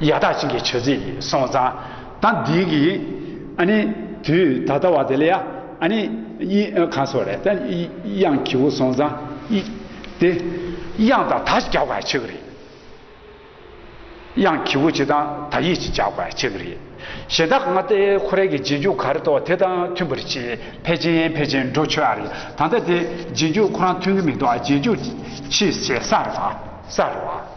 ཡག་ཐག་ཅིག་གི་ཆོས་ཚིག་གི་སོང་ཙང་ད་འདི་གི་ཨ་ནི་དུས་ད་ལྟ་བ་དེ་ལ་ཡ་ཨ་ནི་གཡིས་གང་སོགས་རེད་ད་དབྱངས་ཁྱི་བོ་སོང་ཙང་གཡིས་དེ་དབྱངས་དང་ད་ཅིག་རྒྱག་པ་ཆོས་གི་རེད་དབྱངས་ཁྱི་བོ་ཅིག་དང་ད་གཡིས་ཅིག་རྒྱག་པ་ཆོས་གི་རེད་གཞན་དག་ང་ལྟའི་ཁོ་རེ་གི་རྗེས་འཇུག་ག་རེ་ཐོག་དེ་དང་མཐུན་པར་བྱས་ཕལ་ཆེན་ཕལ་ཆེན་འགྲོ་ཆོས་ཨ་རེད་ད་ལྟ་དེ་རྗེས་འཇུག་ཁོ་རང་མཐུན་གི་མི་འདུག་ཨ་རྗེས་འཇུག་ཕྱིས་བྱས་ས་རེད་བ་ས་རེད་བ།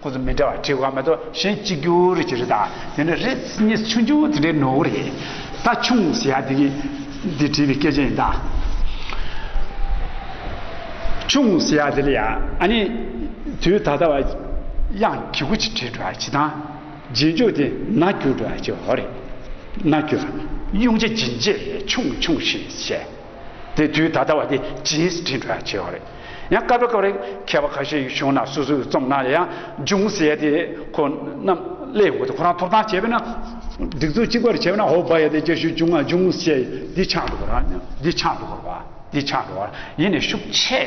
ཁོ་ཚོ་མི་འདྲ་བ་ཁྲི་བ་མེད་དོ་གཞན་གཅིག་གྱུར་གྱི་རི་དང་དེ་ནས་རི་གཉིས་ཆུང་ཆུང་དེ་འདྲའི་ནོར་བུ་རེད། ད་ཆུང་ཟེར་ཡ་དེ་གི་འདི་བྲིས་པའི་སྐད་ཆ་ཡིན་ད། ཆུང་ཟེར་ཡ་དེ་ལ་ཡ་ཨ་ནི་དུས་ད་ལྟ་བ་དབྱངས་གི་གུ་ཅི་བྲིས་འགྲོ་ཡ་བྱེད་དང་རྗེས་འཇུག་དེ་ན་གྱུར་འགྲོ་ཡ་བྱེད་འོ་རེད། ན་གྱུར། དབྱུང་བྱེད་འབྱིན་བྱེད་ཆུང་ཆུང་ཞེས་བཤད། དེ་དུས་ད་ལྟ་བ་དེ་རྗེས་སུ་དྲན་དགོས་ཆེ་བ་རེད། ཡང་སྐབས་རེ་སྐབས་རེ་མཁས་པ་ཁ་ཤས་བྱུང་ན་སོ་སོའི་རྩོམ་ནང་ལ་ཡང་ཅུང་ཟད་དེ་ཁོ་རྣམས་གླེང་དགོས་དུས་ཁོ་རང་ཐོབ་ཐང་བྱས་པས་ན། སྒྲིག་འཛུགས་གཅིག་པ་རེ་བྱས་པས་ན་ཧོ་བ་ཡ་དེ་སྐད་ཤོད་ཅུང་ང་ཅུང་ཟད་འདི་ཆགས་འགྲོ་བ་ར་འདི་ཆགས་འགྲོ་བ་འདི་ཆགས་འགྲོ་བ་ཡེ་ནས་ཤུགས་ཆེ།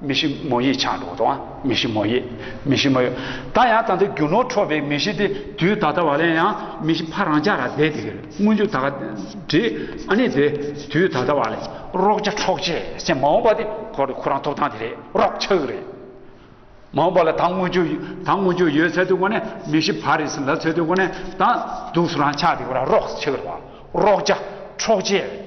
མི་ཤི་མོ་ཡིས་ཆང་འདོགས་དང་མི་ཤི་མོ་ཡིས་མི་ཤི་མོ་ཡོད་ད་ཡང་ད་ལྟ་རྒྱུ་ནོར་འཕྲོག་པའི་མི་ཤི་དེ་དུས་ད་ལྟ་བ་ལན་ཡང་མི་ཤི་ཕ་རང་ཅག་ལ་བསྡད་དེ་སྔོན་འཇུག་ད་ག་བྲིས་ཨ་ནི་དེ་དུས་ད་ལྟ་བ་ལན་རོགས་ཆ་འཕྲོག་བྱེད་སེམས་མ་འོངས་པ་དེ་ཁོ་རེ་ཁོ་རང་ཐོབ་ཐང་དེ་རེད་རོགས་ཆག་རེད་མ་འོངས་པ་ལ་ད་སྔོན་འཇུག་ད་སྔོན་འཇུག་ཡོད་ཚད་དུ་གོ་ནས་མི་ཤི་ཕ་རེ་ཟིན་ལ་ཚད་དུ་གོ་ནས་ད་སྡུག་སུ་རང་ཆག་དེ་གོ་རང་རོགས་ཆག་རེད་པ་རོགས་ཆ་འཕྲོག་བྱེད།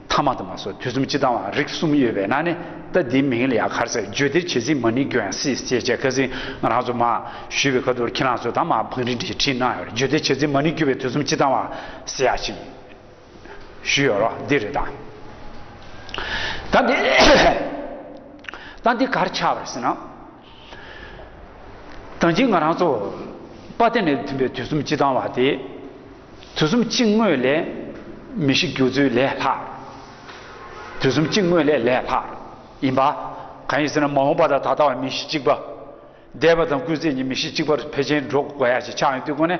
ཐ་མ་དུ་མ་སོགས་དུས་གསུམ་སྤྱི་དང་བ་རིགས་གསུམ་ཡོད་པས་ན་ནི་རྟ་དེའི་མིང་ལ་ཡང་གར་ཟེར་བརྗོད་བདེར་བྱེད་ཚིག་མ་ནི་གྱོན་སྲིད་ཅེས་བྱའི་ཁ་ཟིན་ང་རང་ཚོ་མ་ཞུས་པའི་ཁ་ཐུར་ཁྱི་ནག་ཟོས་དང་མ་བང་རིན་བྲིས་བྲིས་གནང་ཡོད་རེད་བརྗོད་བདེར་བྱེད་ཚིག་མ་ནི་གྱོད་པའི་དུས་གསུམ་སྤྱི་དང་བ་ཟེར་ཡག་ཅིག་ཞུས་ཡོད་རོགས་འདེགས་རེད་ད། ད་འདི་གར་ཆགས་པར་ཟིན་ན། དང་གཅིག་ང་རང་ཚོ། དཔའ་གཏེར་ནས་ཐོན་པའི་དུས་གསུམ་སྤྱི་དང་བ་དེ། དུས་གསུམ་སྤྱི་དངོས་ལས། མི་ཤིགས་རྒྱུ་ཚུལ་ལས་ལྷག། དུས་གསུམ་སྤྱི་དངོས་ལས་ལས་ལྷག། ཡིན་པ། གང་ཡིན་ཟེར་ན་མ་འོངས་པ་དང་ད་ལྟ་བ་མི་ཤིགས་གཅིག་པ། འདས་པ་དང་སྐུལ་ཚེ་གཉིས་མི་ཤིགས་གཅིག་པར་འཕེལ་ཆེན་འགྲོ་དགོས་ཡ་ཞེས་ཕྱག་ཡོན་བཏུད་སྒོ་ནས།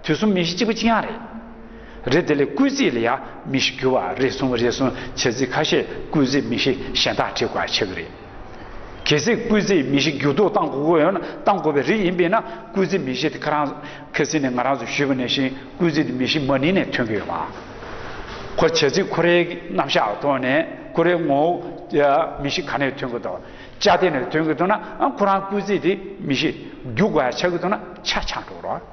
དུས་གསུམ་མི་ཤིག་གཅིག་པུ་གཅིག་ཡང་རེད། རེད་དེ་ལས་བསྐུལ་རྩིས་ལ་ཡང་མི་ཤིག་གུ་བ་རེ་ཟུང་རེ་ཟུང་བྱེད་རྩིས་ཁ་ཤས་བསྐུལ་རྩིས་མི་ཤིག་གཞན་དག་བྲིས་དགོས་ཆེ་གི་རེད། གལ་སྲིད་བསྐུལ་རྩིས་མི་ཤིག་འགྱུར་ལྡོག་གཏང་དགོས་དགོས་ཡོད་ན་གཏང་དགོས་པའི་རིགས་ཡིན་པས་ན་བསྐུལ་རྩིས་མི་ཤིག་དེ་ཁ་རང་ཁེ་སི་ནས་ང་རང་ཚོས་ཞུས་པ་ནས་བཞིན་བསྐུལ་རྩིས་དེ་མི་ཤིག་མ་ནིང་ནས་ཐོན་གི་ཡོད་མ་གོ་བྱེད་རྩིས་ཁོ་རེའི་རྣམ་གཞག་གི་ཐོག་ནས་ཁོ་རེའི་ངོ་བོ་མི་ཤིག་ག་ནས་ཐོན་གི་འདུག་བཅའ་སྡེ་ནས་ཐོན་གི་འདུག་ན་ཁོ་རང་བསྐུལ་རྩིས་དེ་མི་ཤིག་འགྱུར་དགོས་ཆགས་ཀྱི་འདུག་ན་ཆ་ཆག་འགྲོ་གི་རོགས།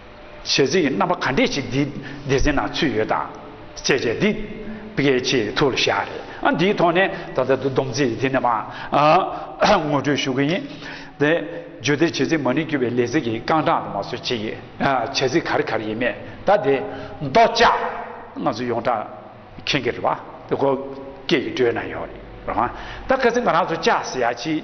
བྱེད་རྩིས་ཀྱི་རྣམ་པ་ག་འདྲས་ཅིག་འདིའི་སྡེ་ཚན་ནང་ཚུད་ཡོད་དང་བཅས་བྱས་འདི་གལ་ཆེ་ཐུགས་ལ་བཞག་རེད་ཨ་འདིའི་ཐོག་ནས་ད་ལྟ་བསྡོམས་རྩིས་འདི་ནས་མ་ངོ་སྤྲོད་ཞུ་གི་ཡིན། དེ་བརྗོད་དེ་བྱེད་རྩིས་མ་ནི་བསྐྱུར་བའི་ལས་རྩིས་ཀྱི་རྐང་གྲངས་དང་མ་སོད་ཅིག་བྱེད་རྩིས་ག་རེ་ག་རེ་ཡིན་མེད་ད་དེ་མདོ་ལྕགས་ང་ཚོ་ཡོངས་གྲགས་མཁྱེན་གི་རེད་བ་དེ་གོ་སྐད་ཀྱི་སྒྲོས་ན་ཡོད་རེད་བ་ད་ག་ཚེ་ང་རང་ཚོ་ལྕགས་ཟེར་ཡ་ཅིག།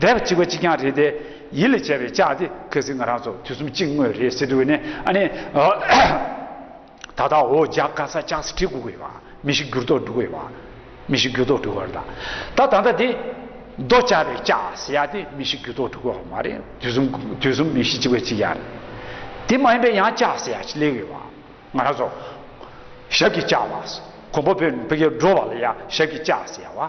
བཟླས་པ་གཅིག་པ་གཅིག་རྐྱང་རེད་དེ། ཡིད་ལ་བྱས་པའི་ལྕགས་དེ་གལ་སྲིད་ང་རང་ཚོ་དུས་གསུམ་གཅིག་དངོས་རེད་ཟེར་དུས་ནས་ཨ་ནི། ད་ལྟ་འོ་ཇག་ག་ས་ལྕགས་སེ་ཁྲིད་གོ་གི་བ། མི་ཤི་འགྱུར་ལྡོག་འགྲོ་གི་བ། མི་ཤི་འགྱུར་ལྡོག་འགྲོ་གི་བ་ལ། ད་ད་ལྟ་དེ། རྡོ་བཅག་པའི་ལྕགས་ཟེར་ཡ་དེ་མི་ཤི་འགྱུར་ལྡོག་འགྲོ་གི་བ་མ་རེད་དུས་གསུམ་དུས་གསུམ་མི་ཤི་གཅིག་པ་གཅིག་རྐྱང་རེད། དེ་མ་ཡིན་པའི་ཡང་ལྕགས་ཟེར་ཡ་ཞིག་སླེབས་གི་བ། ང་རང་ཚོ། ཞབས་ཀྱི་ལྕགས་བ། གོང་པོ་བོད་འགྲོ་བ་ལ་ཡ་ཞབས་ཀྱི་ལྕགས་ཟེར་ཡ་བ།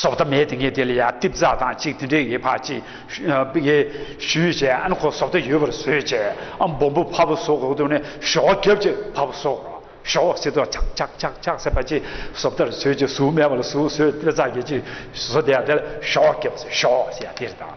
སོགས་ཐ་མའི་ཏིང་ངེ་འཛིན་ལ་ཡང་ཏིབ་ཛྭ་དང་གཅིག་དེ་འདྲའི་ངེས་པ་གཅིག། ཡེ་ཤུའི་བྱའི་ཨན་གོ་སོགས་དེ་ཡོད་པར་བཟོས་བྱས་ཨ་འབུམ་པོ་ཕ་བུ་སོགས་འོག་ཏུ་ནི་ཞོ་བ་གབ་ཅིག་ཕ་བུ་སོགས་ཞོ་བ་སེ་ཏོག་ཆག་ཆག་ཆག་ཆག་སེ་པ་ཅིག་སོགས་ལྟར་བཟོས་ཅིག་གཟུགས་མེད་པ་ལ་གཟུགས་བཟོས་ཏིབ་ཛྭ་གྱིས་ཅིག་བཟོ་དེ་ཡང་དེ་ལ་ཞོ་བ་གབ་ཅིག་ཞོ་བ་སེ་ཡང་དེ་རེ་དང།